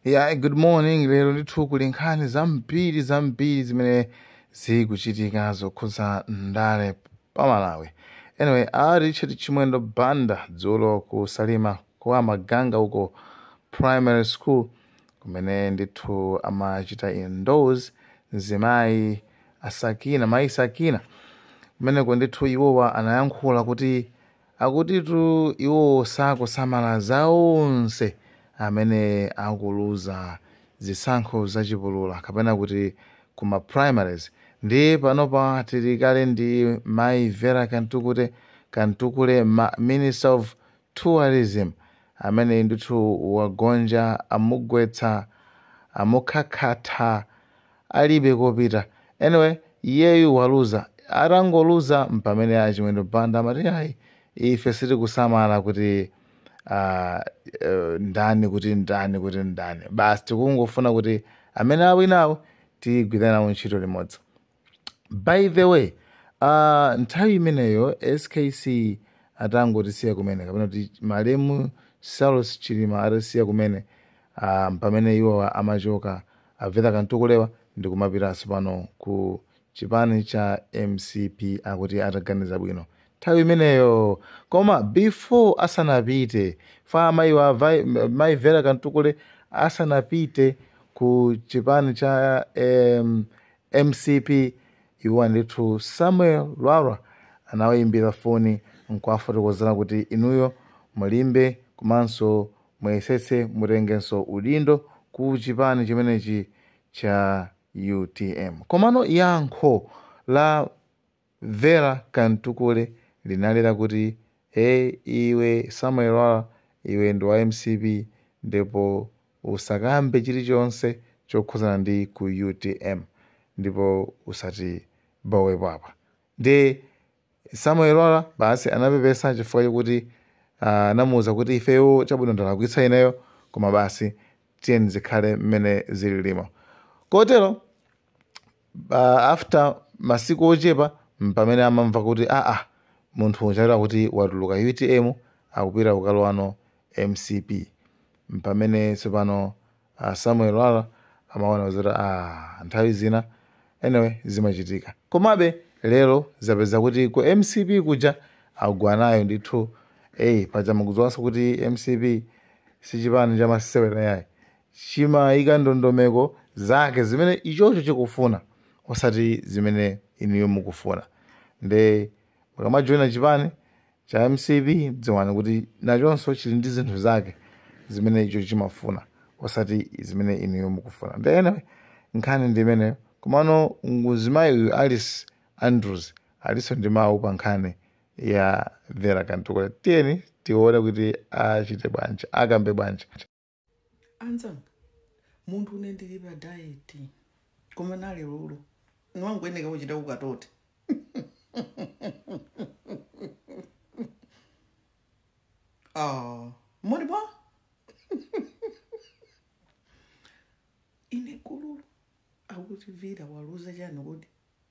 Yeah, good morning. Lero ndithu kuli nkhani zambiri zambiri zimene zikuchitika zokhudza ndale pa Malawi. Anyway, a Richard Chimwendo Banda dzulo ku Salima kwa Maganga uko primary school kumene ndithu amachita endorse mzimayi a Sakina mayi sakina kumeneko ndithu iwowa anayankhula kuti Akutitu iwo sakusamala za onse amene akuluza zisankho za chipulula kapena kuti ku ma primaries ndiye panopa tili kale ndi Mayi Vera Kantukute, Kamtukule, ma, Minister of Tourism amene ndithu wagonja amugwetsa, amukhakhatha alibe kopita anyway iyeyu waluza atangoluza mpamene achimwendo banda amati ayi ife sitikusamala kuti ah, eh, ndani kuti ndani kuti ndani basi tikungofuna kuti amene awinawo tigwirane nawo ntchito limodzi by the way uh, nthawi imeneyo skc atangotisiya kumene kapena kuti malemu saulos chilima atasiya kumene uh, pamene iwowa amachoka A Vera Kamtukulewa ndikumapita tsopano ku chipani cha mcp akuti ataganiza bwino nthawi imeneyoo koma before asanapite fa amayiwa avai mayi vera Kamtukule asanapite ku chipani cha em, mcp iwo andithu samuel lwara anawayimbira foni nkuwafotokozera kuti inuyo mulimbe komanso Muyesetse mutengenso udindo ku chipani chimenechi cha utm. Komano yankho la Vera Kamtukule linali lakuti, iwe Samuel Lwara iwe ndi wa mcp ndipo usakambe chilichonse chokhuzana ndi ku utm ndipo usatibowepo apa. Ndiye Samuel Lwara basi anapepesa chifukwa chokuti ah, anamuwuza kuti ifeyo chabwino ndalakwitsa ineyo koma basi tiyeni zikhale mmene zililimo kotero uh, after masiku ochepa mpamene amamva kuti aa munthu uja eti kuti watuluka utm akupita kukalowano mcp mpamene tsopano a Samuel Lwara amaona zoti aah nthawi zina anyway zimachitika. Komabe lero zapeza kuti ku mcp kuja agwa nayo ndithu eeh paja mukudziwanso kuti mcp si chipani cha masewera yayi. Chimayika ndondomeko zake zimene ichocho chikufuna osati zimene inuyo mukufuna nde Mukamajoina chipani cha mcp dziwani kuti nachonso chili ndi zinthu zake zimene icho chimafuna osati zimene inuyo mukufuna. Nde anyway nkhani ndi imeneyo. Komano mzimayi uyu Alice Andrews alinso ndi mawu pa nkhani ya Vera Kamtukule. Tiyeni tione kuti achite bwanji, akambe bwanji. anzanga munthu une ine ndili pa diet koma nalero niwangoyeneka kuchita ukatote oh, moni ba ine kululu akuti Vera waluza chani kodi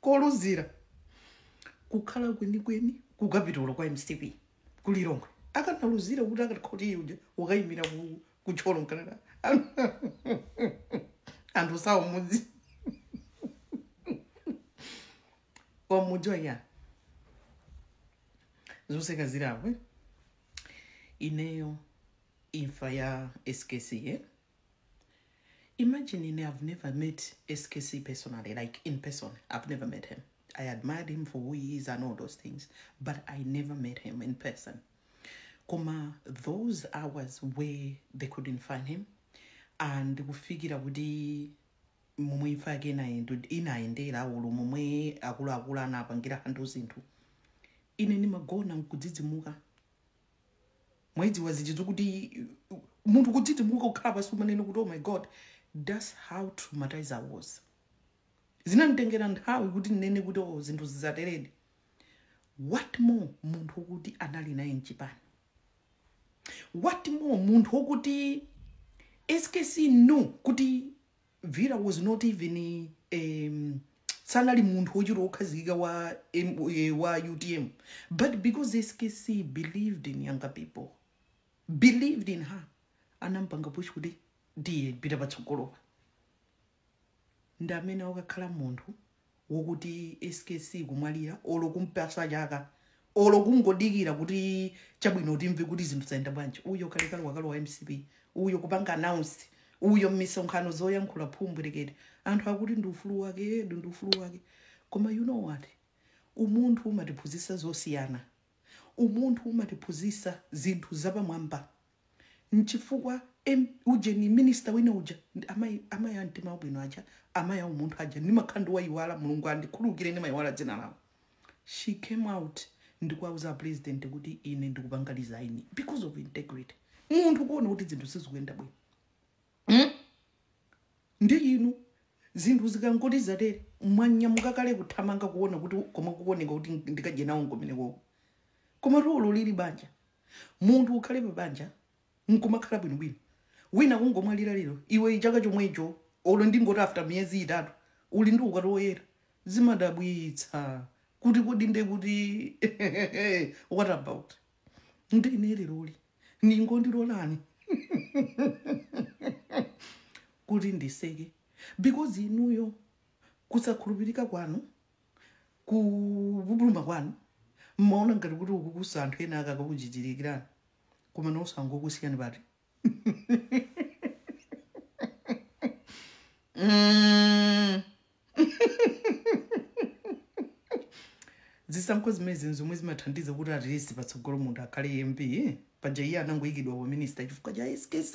koluzira kukhala kwenikweni kukapitolo kwa mcp ku Lilongwe akanaluzira kuti akati uja akayimira ku- ku Thyolo mkanada anthu sawo mudzi wa mudzi wanya zoseka zirabe ineyo imfa ya skc eh? Imagine ine I've never met SKC personally, like in person. I've never met him. I admired him for who he is and all those things, but I never met him in person. Koma, those hours where they couldn't find him, and we figured out the momwe imfa yake inayendu- inayendera ulo momwe akuluakulu anapangira handu zinthu ine ndimagona nkudzidzimuka mwaidziwa zija zokuti munthu kudzidzimuka kukhala pansi umanene kuti oh my god thats how traumatized i was zinanditengera nthawi kuti ndinene kuti oh zinthu zizateredi what more munthu wokuti anali naye mchipani what more munthu wokuti skc knew kuti Vera was not even a sanali munthu wochita wokhazikika wa, M- eh, wa utm but because skc believed in younger people believed in her anampanga push kuti tiye pita patsogolopa ndi amene akakhala munthu wokuti skc kumwalira olo kumpatsa chaka olo kungodikira kuti chabwino timve kuti zinthu zayenda bwanji uyo kalekale wakalowa mcp uyo kupanga announce uyo mmisonkhano zoyankhula phumbwerekete anthu akuti ndi ufulu wake eh ndi ufulu wake koma you know what umunthu umatiphunzitsa zosiyana umunthu umatiphunzitsa zinthu zapamwamba Nchifukwa em ujeni minister wina uja ndi amayi amayi amtima wabwino aja amayi aumunthu aja ndimakhala ndikuwayiwala Mulungu andikhululukire ndimayiwala dzina lawo she came out ndikuwauza a president kuti ine ndikupanga resign because of integrity munthu kuona kuti zinthu sizikuyenda bwino mm? ndi inu zinthu zikangoti zatere mwanyamuka kale kuthamanga kuona kuti komwe kukuoneka kuti ndikadye nawo nkumeneko komatu ulu lili banja munthu ukhale pa banja nkumakhala bwino bwino wina kungomwalira lero iwe chaka chomwecho olo ndingoti after miyezi itatu uli ndi ukwati woyera zimadabwitsa kuti kodi ndiye kuti what about ndiye ine leroli mungondilolani kuti ndiseke because inuyo kusakhulupirika kwanu kupupuluma kwanu mmaona ngati kuti ukukutsa anthu ena aka akakuchirikirani koma onse angokusiyani bati Mm. zisankho zimenezi zomwe zimathandiza kuti at least patsogolo munthu akhale mp paja iye anangoyikidwa pa minista chifukwa cha skc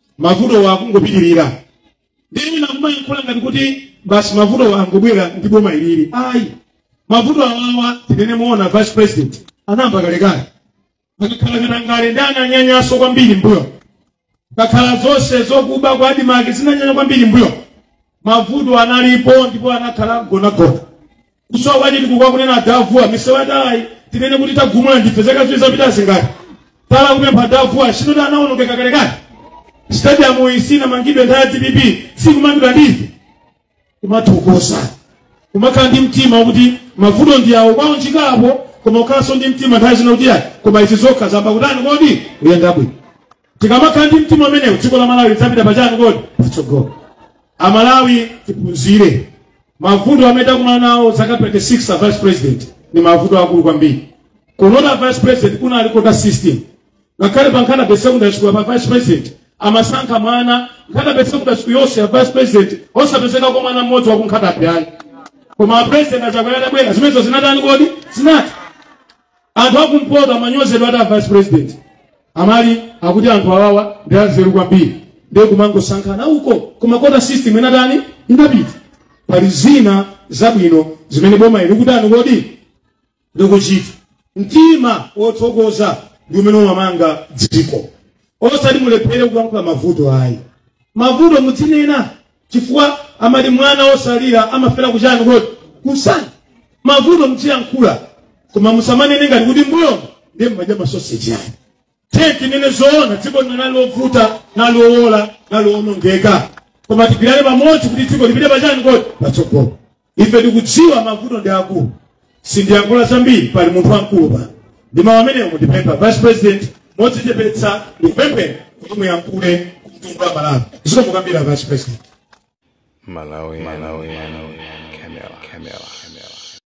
mavutowa akungopitirira ndiye wina kumayankhula ngati kuti basi mavutowa angobwera ndi boma ilili ayi mavuto awawa tinene moona vice president anayamba kalekale akakhala katangale ndiye ananyanyanso kwambiri mbuyo kakhala zonse zokuba kwa adimake zinanyanya kwambiri mbuyo mavuto analipo ndipo anakhala gonagona kusowa kwa chitukuko akunena a Vuwa misewu yatalayi tinene kuti tagumula ndife zaka ziwiri zapitazi ngati tala akupempha a Vuwa si ndi anaonongeka kalekale stadium iyi sinamangidwe nthawi ya dpp ikumangidwa ndife kumathokoza kumakhala ndi mtima wakuti mavuto ndi awo kwawo nchikapo koma ukhalanso ndi mtima nthawi zina kuti ayi koma izi zokha zayamba kutani kodi kuyenda bwino tikamakhala ndi mtima umenewu dziko la malawi lidzapita pachani kodi patsogolo amalawi tiphunzire mavuto amene takumana nawo zaka 26 a vice president ni mavuto akulu kwambiri kuno a vice president kunali kota system ngakhale pa Nkhata Bay secondary school pa vice president amasankha mwana Nkhata Bay secondary school yonseyi a vice president osapezekapo mwana mmodzi waku Nkhata Bay ayi koma a president achakwera atabwera zimenezo zinatani kodi zinatha anthu akumpoto amanyozedwa ati a vice president amati akuti anthu awawa ndi anzeru kwambiri ndiye kumangosankhana uko koma kota system inatani inapita pali zina zabwino zimene boma ili likutani kodi likuchita mtima wothokoza ndi umene umamanga dziko osati mulephere kuyankhula mavuto ayi mavuto mudzinena chifukwa amati mwana wosalira amafera kuchani kodi kumsana mavuto mudziyankhula koma musamanene ngati kuti mbuyomu ndiye mmadya masoseji ayi tiyeni tinene zoona dziko lino linali lovuta linali lowola linali lowonongeka koma tigwirane pamodzi kuti dziko lipite pachani kodi patsogolo ife tikudziwa mavuto ndi akulu sindiyankhula zambiri pali munthu wamkulu pano ndi mawu amenewo ndipempha vice president modzichepetsa ndikupempheni kuti muyankhule kumtundu wa malawi zikomo kwambiri vice president